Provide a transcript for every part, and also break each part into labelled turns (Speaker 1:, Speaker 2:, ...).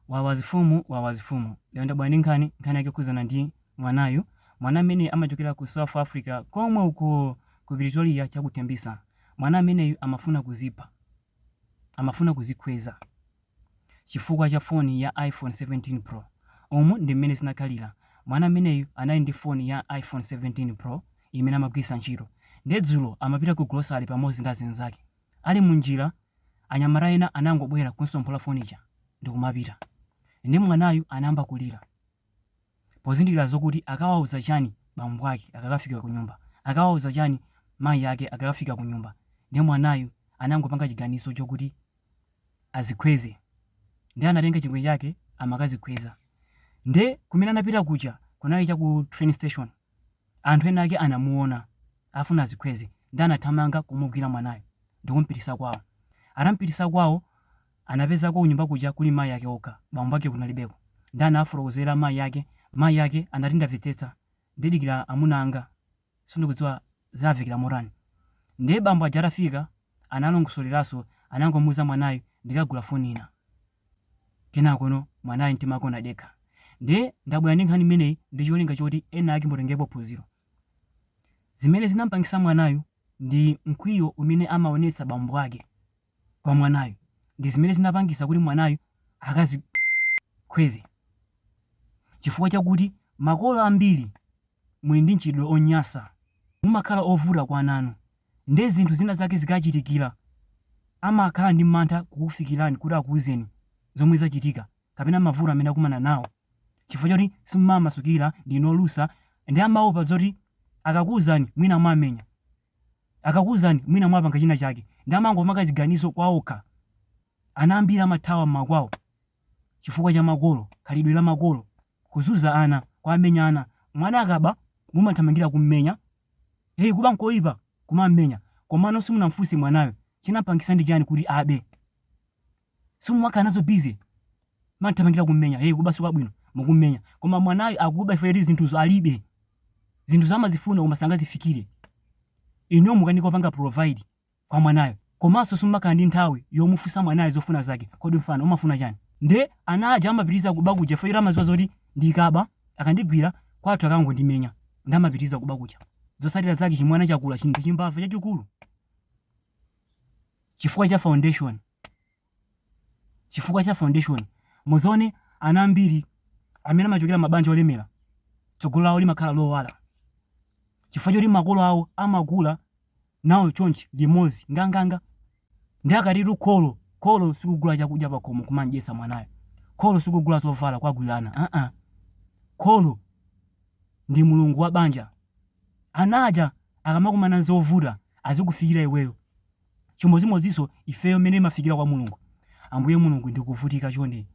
Speaker 1: Wawa mfumu wawa mfumu. Lero ndabwera ndi nkhani, nkhani yake yokhudzana ndi mwanayu, mwana amene amachokera ku South Africa komwe uko ku Pretoria cha ku Tembisa. Mwana ameneyu amafuna kudzipha, amafuna kudzikhweza chifukwa cha foni ya iPhone 17 pro. Umu ndi mmene zinakhalira, mwana ameneyu anali ndi foni ya iPhone 17 pro imene amagwiritsa ntchito, ndiye dzulo amapita ku grocery pamodzi ndi azinzake. Ali munjira anyamata ena anangobwera kumutsomphola foni ija ndikumapita. Nde mwanayu anayamba kulira pozindikira zokuti akawauza chani bambo ake akakafika kunyumba, akawauza chani mayi ake akakafika kunyumba. Nde mwanayu anangopanga chiganizo chokuti adzikhweze. Nde anatenga chingwe chake amakadzikhweza. Nde kumene anapita kuja kunali cha ku train station. Anthu enaake anamuona akufuna adzikhweze nde anathamanga kumugwira mwanayo ndikumpitisa kwawo. Atampitisa kwawo anapezako kunyumba kuja kuli mayi ake okha bambo ake kunalibeko nde anawafotokozera mayi ake. Mayi ake anati ndamvetsetsa ndidikira amuna anga sindikudziwa zimvekera motani. Ndiye bambo aja atafika analongosolerananso anangomuuza mwanayo ndikagula foni ina. Kenakono mwanayu mtima wake unadekha. Ndiye ndabwera ndi nkhani imeneyi ndi cholinga choti enaake mutengerepo phunziro. Zimene zinamupangitsa mwanayu ndi mkwiyo umene amaonetsa bambo ake kwa mwanayu ndi zimene zinapangitsa kuti mwanayu akadzikhweze. Chifukwa chakuti makolo ambiri muli ndi mchitidwe onyansa, mumakhala ovuta kwa ana anu. Ndiye zinthu zina zake zikawachitikira, amakhala ndi mantha kukufikirani kuti akuuzeni zomwe zachitika kapena mavuto amene akumana nawo chifukwa choti simumawamasukira, ndinu olusa ndiye amaopa zoti akakuuzani mwina muwamenya, akakuuzani mwina muwapanga china chake ndiye amangopanga ziganizo kwaokha. Ana ambiri amathawa m'makwawo chifukwa cha makolo, khalidwe la makolo, kuzunza ana, kuwamenya ana. Mwana akaba mumathamangira kummenya Hey kuba nkoipa kumammenya komano simunamfunse mwanayo chinampangisa ndi chani kuti abe simumakhala nazo busy mumathamangira kummenya hey kuba sikwabwino mukummenya koma mwanayo akuba chifukwa choti zinthuzo alibe zinthu zaamazifuna koma sangazifikire inuyo mukukanika kupanga provide kwa mwanayo komanso simumakhala ndi nthawi yomufunsa mwanayo zofuna zake kodi mfana umafuna chani nde ana aja amapitiriza kuba kuja chifukwa choti amadziwa zoti ndikaba akandigwira kwathu akangondimenya nde amapitiriza kuba kuja zotsatira zake chimwana chakula chinthu chimbava chachikulu chifukwa cha foundation chifukwa cha foundation. Muzione ana ambiri amene amachokera mabanja olemera, tsogolo lawo limakhala lowala chifukwa choti makolo awo amakula nawo chonchi limodzi nganganga. Nde akatitu kholo, kholo sikugula chakudya pakhomo kumamdyetsa mwanayo, kholo sikugula zovala kuwagulira ana aa, kholo ndi mulungu wa banja. Ana aja akamakumana ndi zovuta azikufikira iweyo, chimodzimodzinso ifeyo mmene timafikira kwa mulungu ambuye mulungu ndikuvutika chonde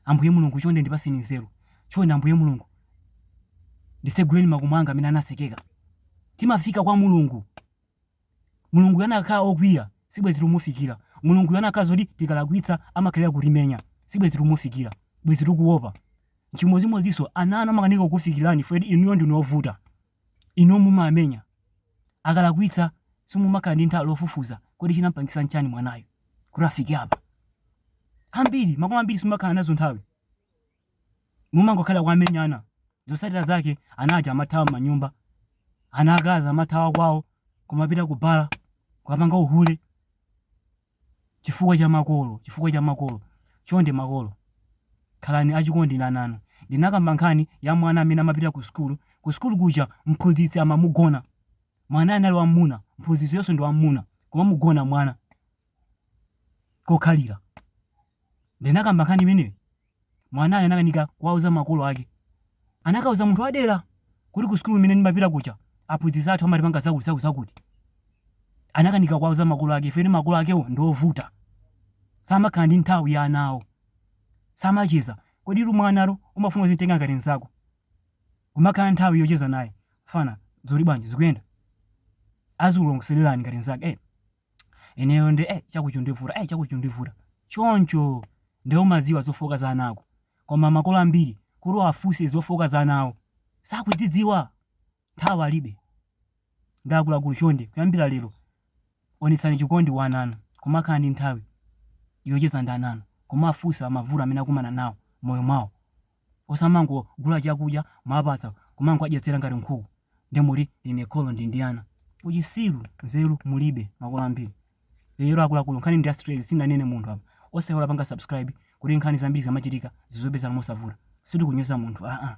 Speaker 1: ambuye mulungu chonde ndipatseni nzeru chonde ambuye mulungu nditseguleni makomo anga amene anatsekeka timafika kwa mulungu mulungu anakakhala okwiya sibwezi tumufikira mulungu anakakhala zoti tikalakwitsa amakhalira kutimenya sibwezi tumufikira bwezi tikuopa chimodzimodzinso ana anu amakanika kukufikirani chifukwa choti inuyo ndinu ovuta Inu mumamenya. Akalakwitsa simumakhala ndi nthawi yofufuza kodi chinampangisa nchani mwanayu kuti afike apa. Ambiri, makolo ambiri simumakhala nazo nthawi. Mumangokhalira kuwamenya. Zosatira zake ana aja amathawa manyumba. Ana akazi amathawa kwawo kumapita ku bala, kukapanga uhule. Chifukwa cha makolo, chifukwa cha makolo. Chonde makolo, khalani achikondi ndi ana anu. Ndinakamba nkhani ya mwana amene amapita ku sukulu. Ku sukulu kuja mphunzitsi amamugona. Mwanayo anali wam'muna, mphunzitsiyonso ndi wam'muna, kumamugona mwana kokhalira. Ndinakamba nkhani imeneyo. mwanayo anakanika kuwauza makolo ake anakauza munthu wadera kuti ku sukulu imene ndimapita kuja aphunzitsi athu amatipanga zakuti zakuti zakuti anakanika kuwauza makolo ake chifukwa choti makolo akewo ndi ovuta samakhala ndi nthawi ya ana awo samacheza kodi inu mwanayo umafuna uzimutenga ngati mzako kumakhala nthawi yocheza naye fana zuli bwanji zikuyenda azikulongosolerani ngati mzake eh ineyo ndi eh, chikuti chikundivuta eh, chikuti chikundivuta choncho nde umaziwa zofooka za ana ako koma makolo ambiri kuti uwafunse zofooka za ana awo sakudzidziwa nthawi alibe nde akuluakulu chonde kuyambira lero onetsani chikondi kwa ana anu kumakhala ndi nthawi yocheza ndi ana anu kuwafunsa mavuto amene akumana nawo mmoyo mwawo osamangogula chakudya mwapatsa kumangowadyetsera ngati nkhuku nde muziti ndine kholo ndili ndi ana. Uchisiru nzeru mulibe makolo ambiri lero akuluakulu nkhani ndi ya straight sindinanene munthu apa osaiwala kupanga subscribe kuti nkhani zambiri zikamachitika zizikupezani mosavuta sitikunyoza munthu aa.